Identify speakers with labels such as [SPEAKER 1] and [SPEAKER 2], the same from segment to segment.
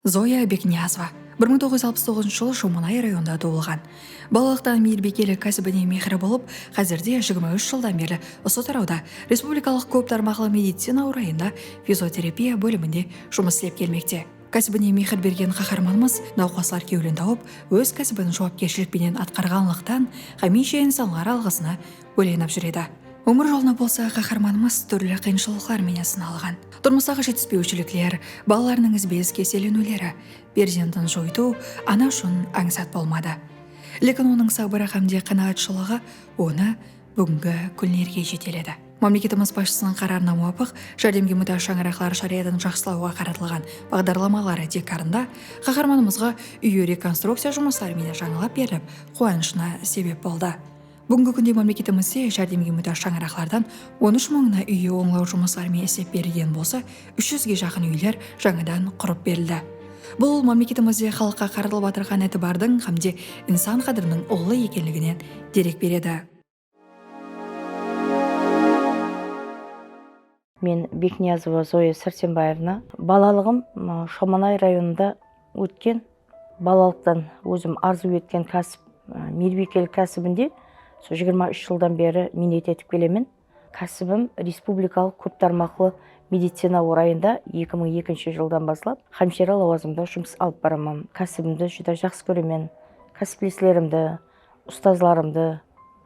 [SPEAKER 1] Zoya Bekniyazova, bir mıń toǵız júz alpıs toǵızınshı jılı Shomanay rayonında tuwılǵan. Balalıqtan miyirbikellik kásibine miyqırı bolıp, xázirde jigirma úsh jıldan berli usı tarawda Respublikalıq kóp tarmaqlı medicina orayında fizioterapiya bóliminde jumıs islep kelmekte. Kásibine miyqır bergen qaharmanımız nawqaslar kewlin tawıp, óz kásibin juwapkershilik penen atqarǵanlıqtan hámiyshe insanlar alǵısına Óylanıp júr edi. Ómir jolına bolsa qaharmanımız túrli qıyınshılıqlar menen sınalǵan. Turmıstaǵı jetispewshilikler, balalarınıń izbe-iz keselleniwleri, perzendin joytıw ana ushın ańsat bolmadı. Lekin onıń sabırı hámde qanaatshılıǵı onı búgingi kúnlerge jeteledi. Mámleketimiz basshısınıń qararına muwapıq, járdemge mútáj shańaraqlar sharayatın jaqsılawǵa qaratılǵan baǵdarlamaları tiykarında qaharmanımızǵa úyi rekonstrukciya jumısları menen jańalap berilip, quwanıshına sebep boldı. Búgingi kúnde mámleketimizde járdemge mútáj shańaraqlardan on úsh mıńına úyi ońlaw jumıslarımen islep berilgen bolsa, úsh júzge jaqın úyler jańadan qurıp berildi. Bul mámleketimizde xalıqqa qaratılıp atırǵan itibardıń hámde insan qádiriniń ullı ekenliginen derek beredi.
[SPEAKER 2] Men Bekniyazova Zoya Sársenbaevna. Balalıǵım Shomanay rayonında ótken. Balalıqtan ózim arzıw etken kásip miybiykelik kásibinde usı jigirma úsh jıldan beri miynet etip kelemen. Kásibim respublikalıq kóp tarmaqlı medicina orayında eki mıń ekinshi jıldan baslap hámshira lawazımında jumıs alıp baraman. Kásibimdi júdá jaqsı kóremen, kásipleslerimdi, ustazlarımdı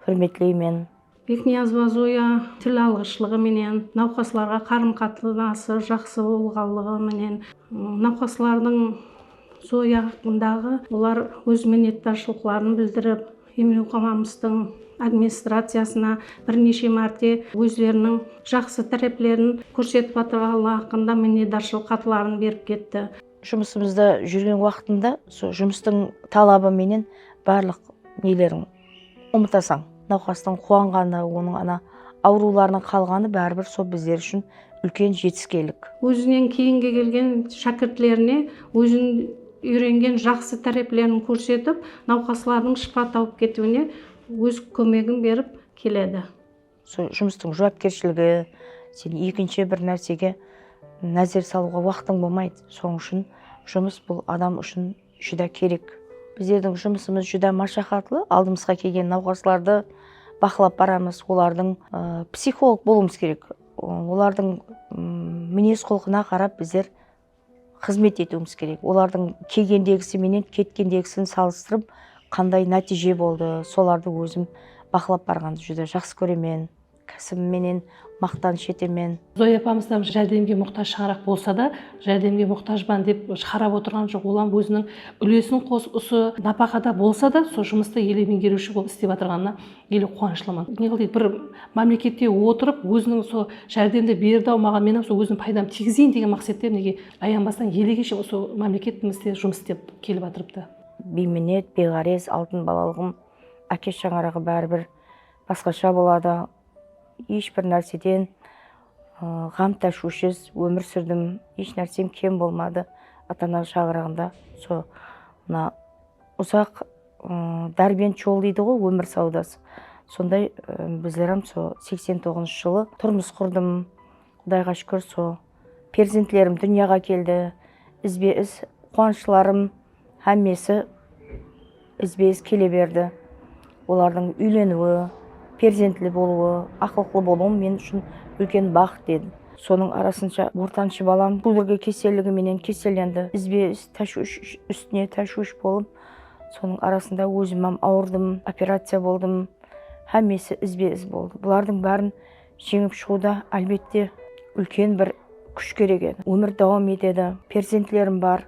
[SPEAKER 2] húrmetleymen. Bekniyazova
[SPEAKER 3] Zoya til alǵıshlıǵı menen, nawqaslarǵa qarım-qatınası jaqsı bolǵanlıǵı menen nawqaslardıń Zoya haqqındaǵı olar óz minnetdarshılıqların bildirip, emlewxanamızdıń administraciyasına bir neshe márte ózleriniń jaqsı táreplerin kórsetip atırǵanlıǵı haqqında minnetdarshılıq xatların berip ketti. Jumısımızda
[SPEAKER 2] júrgen waqtında sol jumıstıń talabı menen barlıq neleriń. Umıtasań, nawqastıń quwanǵanı, onıń ana awırıwlarınan qalǵanı báribir sol bizler ushın úlken jetiskenlik. Ózinen keyingi
[SPEAKER 3] kelgen shákirtlerine óziniń úyrengen jaqsı táreplerin kórsetip, nawqaslardıń shıpa tawıp ketiwine óz kómegin berip keledi. Sol jumıstıń
[SPEAKER 2] juwapkershiligi, sen ekinshi bir nársege názer salıwǵa waqtıń bolmaydı. Sonıń ushın jumıs bul adam ushın júdá kerek. Bizlerdiń jumısımız júdá mashaqatlı, aldımızǵa kelgen nawqaslardı baqlap baramız, olardıń psixolog bolıwımız kerek. Olardıń minez-qulqına qarap bizler xızmet etiwimiz kerek. Olardıń kelgendegisi menen ketkendegisin salıstırıp qanday nátiyje boldı, solardı ózim baqlap barǵandı júdá jaqsı kóremen, kásibim menen maqtanısh etemen. Zoya apamız da
[SPEAKER 4] járdemge muxtaj shańaraq bolsa da, járdemge muxtajban dep shıǵarap otırǵan joq, olam óziniń úlesin qosıp usı napaqada bolsa da sol jumıstı ele meńgeriwshi bolıp islep atırǵanına Neli quwanıshlımın. Ne qıldıydı bir mámlekette otırıp óziniń usı járdemdi berdi-aw maǵan menam usı óziniń paydamdı tigizeyın degen maqsette mineke ayanbastan elege shekem usı mámleketimizde jumıs islep kelip atırıptı. Biyminet,
[SPEAKER 2] biyǵárez altın balalıǵım áke shańaraǵı bári bir basqasha boladı. Esh bir nárseden ǵam táshwishsiz ómir súrdim. Esh nársem kem bolmadı. Ata-ana shańaraǵında usı mına uzaq Dárbent jol deydi ǵo ómir sawdası sonday bizlerem so seksen toǵızınshı jılı turmıs qurdım qudayǵa shukir so perzentlerim dúnyaǵa keldi izbe iz quwanıshlarım hámmesi izbe iz kele berdi olardıń úyleniwi perzentli bolıwı aqılıqlı bolıwım men ushın úlken baxıt edi sonıń arasınsha ortanshı balam kudırgi keseligi menen kesellendi izbe iz táshwish ústine táshwish bolıp Sonıń arasında ózim hám awırdım, operaciya boldım, hámmesi izbe-iz boldı. Bulardıń bárin jeńip shıǵıwda, álbette, úlken bir kúsh kerek edi. Ómir dawam etedi, perzentlerim bar,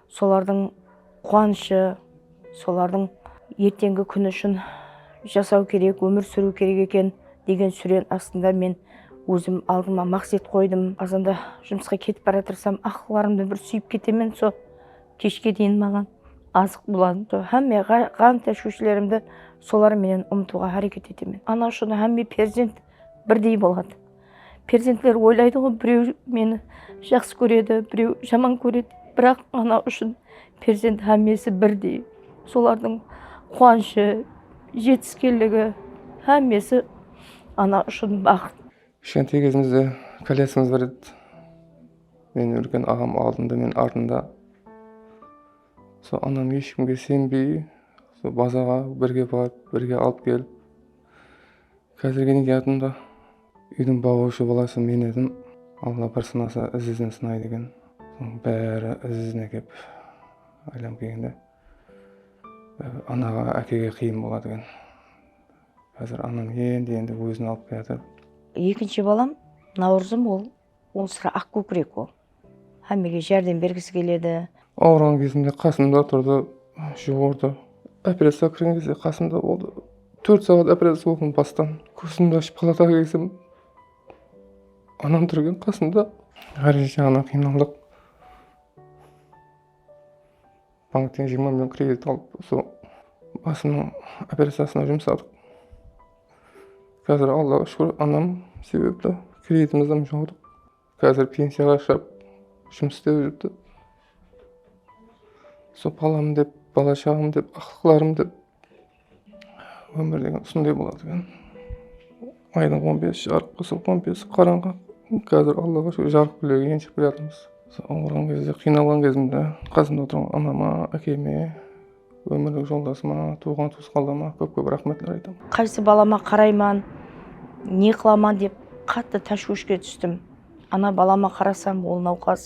[SPEAKER 2] solardıń quwanıshı, solardıń erteńgi kúni ushın jasaw kerek, ómir súriw kerek eken, degen súren astında men ózim aldıma maqset qoydım. Azanda jumısqa ketip baratirsam, aqlıqlarımdı bir súyip ketemen, so, Keshke deyin maǵan azıq boladı. Hámme ǵan táshwishlerimdi solar menen umıtıwǵa háreket etemen. Ana ushın hámme perzent birdey boladı. Perzentler oylaydıǵo, birew meni jaqsı kóredi, birew jaman kóredi. Biraq ana ushın perzent hámmesi birdey. Solardıń quwanıshı, jetiskenligi, hámmesi ana ushın baxıt. Kishkente gezimizde
[SPEAKER 5] kólyatınbız bir ret meniń úlken aǵam aldında men artında sol anam esh kimge senbey sol bazarǵa birge barıp birge alıp kelip kázirge nege yadımda úydiń bawırıwshı balası men edim alla bir sınasa iz izin sınaydı eken sonıń bári iz izine kep aylanıp kelgende anaǵa ákege qıyın boladı eken. Xázir anam endi-endi ózin alıp kiyatır. Ekinshi balam
[SPEAKER 2] Nawrızım ol ol sırá aq kókirek ol. Hámmege járdem bergisi keledi. Awırǵan kezimde
[SPEAKER 5] qasımda turdı, juwırdı. Operaciyaǵa kirgen gezde qasımda boldı. Tórt saǵat operaciya boldım bastan. Kózimdi ashıp palataǵa kelsem anam tur eken qasımda. Ǵárejet jaǵınan qıynaldıq. Bankten jigirma million kredit alıp usı basımnıń operaciyasına jumsadıq. Kázir Allaǵa shúkir anam sebepli kreditimizdim jawdıq. Kázir pensiyaǵa shıǵıp jumıs istep júrdi. Usı balam dep, bala shaǵam dep, aqlıqlarım dep Ómir degen usınday boladı eken. Aydıń on bes jarıq bolsa on besi qarańǵı. Kázir Allaǵa shúkir jarıq púlegi enship kelyatırmız. Awırǵan gezde, qıynalǵan gezimde qasımda oturǵan anama, ákeme, ómirlik joldasıma, tuwǵan tuwısqanlarıma kóp-kóp raxmetler aytamın. Qaysı balama
[SPEAKER 2] qarayman, ne qılaman dep qattı táshwishke tústim. Ana balama qarasam, ol nawqas,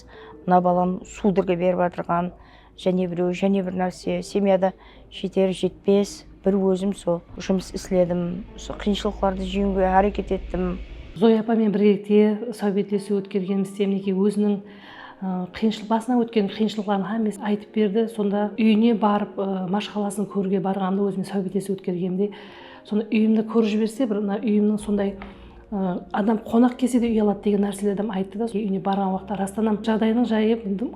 [SPEAKER 2] mına balam sudorga berip atırǵan. Jáne birew, jáne bir nárse, semyada jeter, jetpes, bir ózim sol jumıs isledim, usı qıyınshılıqlardı jeńiwge háreket ettim. Zoya apamen
[SPEAKER 4] birgelikte sáwbetlesiw ótkergenimiz Temniki óziniń qıyınshılıq, basınan ótken qıyınshılıqların hámmesini aytıp berdi. Sonda úyine barıp, mashqalasın kóriwge barǵanımda ózimnen sáwbetlesiw ótkergenimde, sonda úyimdi kórip jiberse, bir úyimniń sonday Adam qonaq kelse de uyaladı degen nárselerdim ayttı da úyine barǵan waqıtta rastanam jaǵdayınıń jayı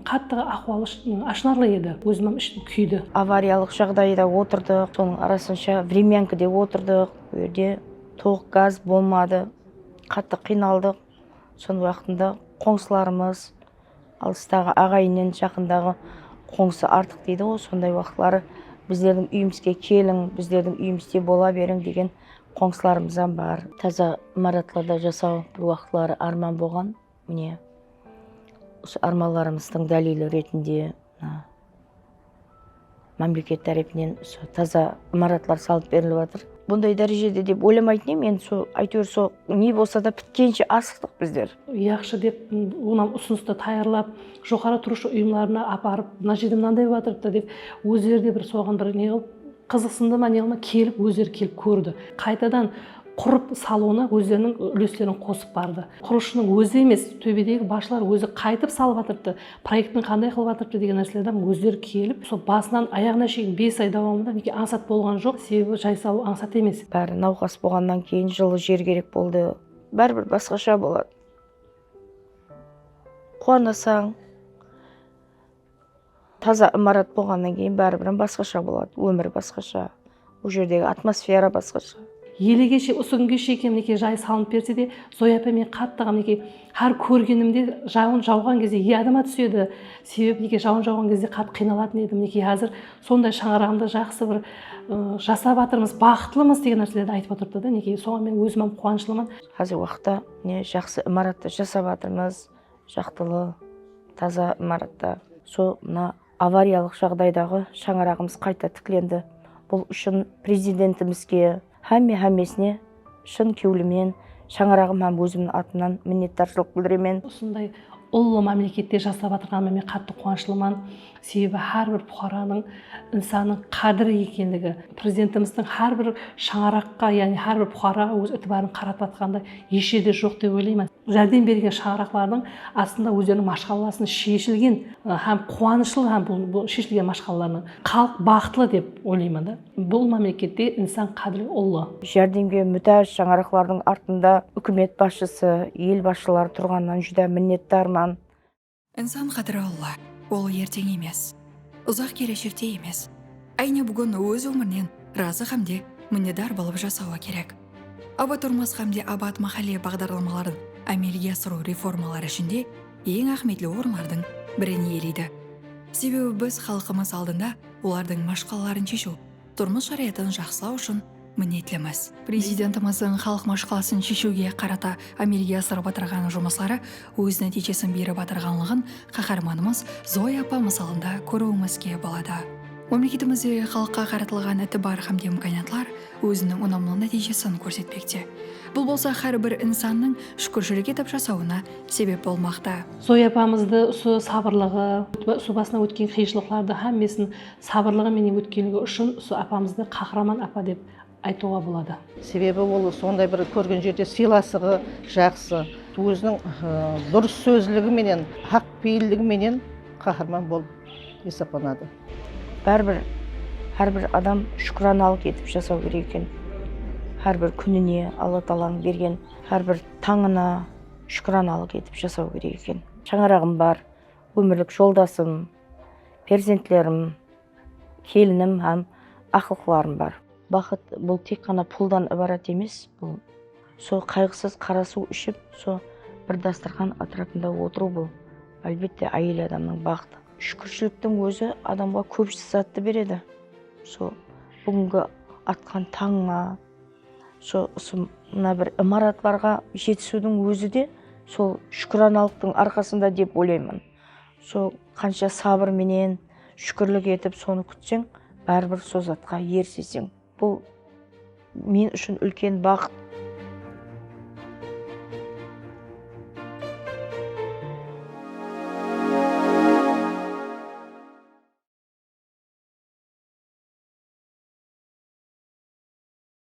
[SPEAKER 4] qattı ahwalı ashınarlı edi ózimam ishim kúydi. Avariyalıq jaǵdayıda
[SPEAKER 2] otırdıq sonıń arasınsha vremyankide otırdıq ol jerde tolıq gaz bolmadı qattı qıynaldıq sonıń waqtında qońsılarımız Alıstaǵı aǵayinnin jaqındaǵı qońsı artıq deydiǵo sonday uaqıtları bizlerdiń úyimizge keliń bizlerdiń úyimizde bola beriń degen qońsılarımızam bar. Taza imaratlarda jasau bir uaqıtları árman bolǵan mine usı ármanlarımızdıń dálili retinde mına Mámleket tárepinen usı taza imaratlar salıp berilip atır. Bunday dárejede dep oylamaytın edim, endi sol áyteuir sol ne bolsa da pitkenshe asıqtıq bizler. Yaqshı dep
[SPEAKER 4] onam usınıstı tayarlap joqarı turıwshı uyımlarına aparıp mına jerde mınanday bolıp atırıptı dep ózleri de bir soǵan bir ne qılıp Qızıqsındı ma ne ma kelip ózleri kelip kórdi. Qaytadan qurıp salıwına ózleriniń úleslerin qosıp bardı. Qurılısshınıń ózi emes, tóbedegi basshılar ózi qaytıp salıp atırıptı, proektin qanday qılıp atırıptı degen nárselerden ózleri kelip, sol basınan ayaǵına sheyin bes ay dawamında mineki ańsat bolǵan joq, sebebi jay salıw ańsat emes. Bári nawqas bolǵannan
[SPEAKER 2] keyin jıllı jer kerek boldı. Bári bir basqasha boladı. Quwanasań, Taza imarat bolǵannan keyin báribir basqasha boladı, ómir basqasha, ol jerdegi atmosfera basqasha. Elegeshe usı
[SPEAKER 4] kúnge shekem mineke jay salınıp berse de Zoya ápay men qattı mineke xár kórgenimde jawın jawǵan gezde yadıma túsedi sebep mineke jawın jawǵan gezde qattı qıynalatın edim mineke xázir sonday shańaraǵımda jaqsı bir jasap atırmız baxıtlımız degen nárselerdi aytıp otırdı da mineke soǵan men ózimam quwanıshlıman xázirgi uaqıtta
[SPEAKER 2] mine jaqsı imaratta jasap atırmız Jaqtılı, taza imaratta sol mına avariyalıq jaǵdaydaǵı shańaraǵımız qayta tiklendi. Bul ushın Prezidentimizge, hámme-hámmesine shın kewlimen, shańaraǵım hám ózimniń atımnan minnetdarshılıq bildiremen. Usınday
[SPEAKER 4] ullı mámlekette jasap atırǵanıma men qattı quwanıshlıman. Sebebi hár bir puqaranıń insannıń qádiri ekenligi, Prezidentimizdiń hár bir shańaraqqa, yaǵnıy hár bir puqaraǵa óz itibarın qaratıp atqanında hesh jerde joq dep oylayman. Járdem berilgen shańaraqlardıń astında ózleriniń mashqalalarısın sheshilgen hám quwanıshlı hám bul sheshilgen mashqalalarınan xalıq baxıtlı dep oylayman da. Bul mámlekette insan qádiri ullı. Járdemge mútáj
[SPEAKER 2] shańaraqlardıń artında úkimet basshısı, el basshıları turǵanınan júdá minnetdarman. Insan
[SPEAKER 1] qádiri Alla, ol erteń emes, uzaq keleshekte emes, áyne búgin óz ómirinen razı hámde minnetdar bolıp jasawı kerek. Abat turmıs hámde Abat máhálle baǵdarlamaların ámelge asırıw reformalar ishinde eń áhmiyetli orınlardıń birin iyeleydi. Sebebi biz xalqımız aldında olardıń mashqalaların sheshiw, turmıs sharayatın jaqsılaw ushın minnetlimiz. Prezidentimizdiń xalıq mashqalasın sheshiwge qarata ámelge asırıp atırǵan jumısları óz nátiyjesin berip atırǵanlıǵın Qaharmanımız Zoya apa mısalında kóriwimizge boladı. Mámleketimizde xalıqqa qaratılǵan itibar hám de imkaniyatlar óziniń unamlı nátiyjesin kórsetpekte. Bul bolsa hár bir insannıń shúkirshilik etip jasawına sebep bolmaqta. Zoya apamızdı
[SPEAKER 4] usı sabırlıǵı, usı basınan ótken qıyınshılıqlardı hámmesin Sabırlıǵı menen ótkenligi ushın usı apamızdı Qahraman apa dep aytıwǵa boladı. Sebebi ol
[SPEAKER 6] sonday bir kórgen jerde sıylasıǵı jaqsı, óziniń durıs sózligi menen, haq peyilligi menen qaharman bolıp esaplanadı. Báribir
[SPEAKER 2] hár bir adam shúkiranalıq etip jasaw kerek eken. Hár bir kúnine, Alla taalańıń bergen hár bir tańına shúkiranalıq etip jasaw kerek eken. Shańaraǵım bar, ómirlik joldasım. perzentlerim, kelinim hám aqlıqlarım bar. Baxıt, bul tek ǵana puldan ibarat emes, bul, sol qayǵısız qara suw iship, sol bir dastırxan átirapında otırıw, bul, álbette, áyel adamnıń baxıtı. Shúkirshiliktiń ózi adamǵa kóbis zattı beredi. Sol búgingi atqan tańıńa, sol usı mına bir imaratlarǵa jetisiwdiń ózi de sol shúkiranalıqtıń arqasında dep oylayman. Sol qansha sabır menen, shúkirlik etip sonı kútseń, báribir sol zatqa eriseseń. Bul men ushın úlken baxıt.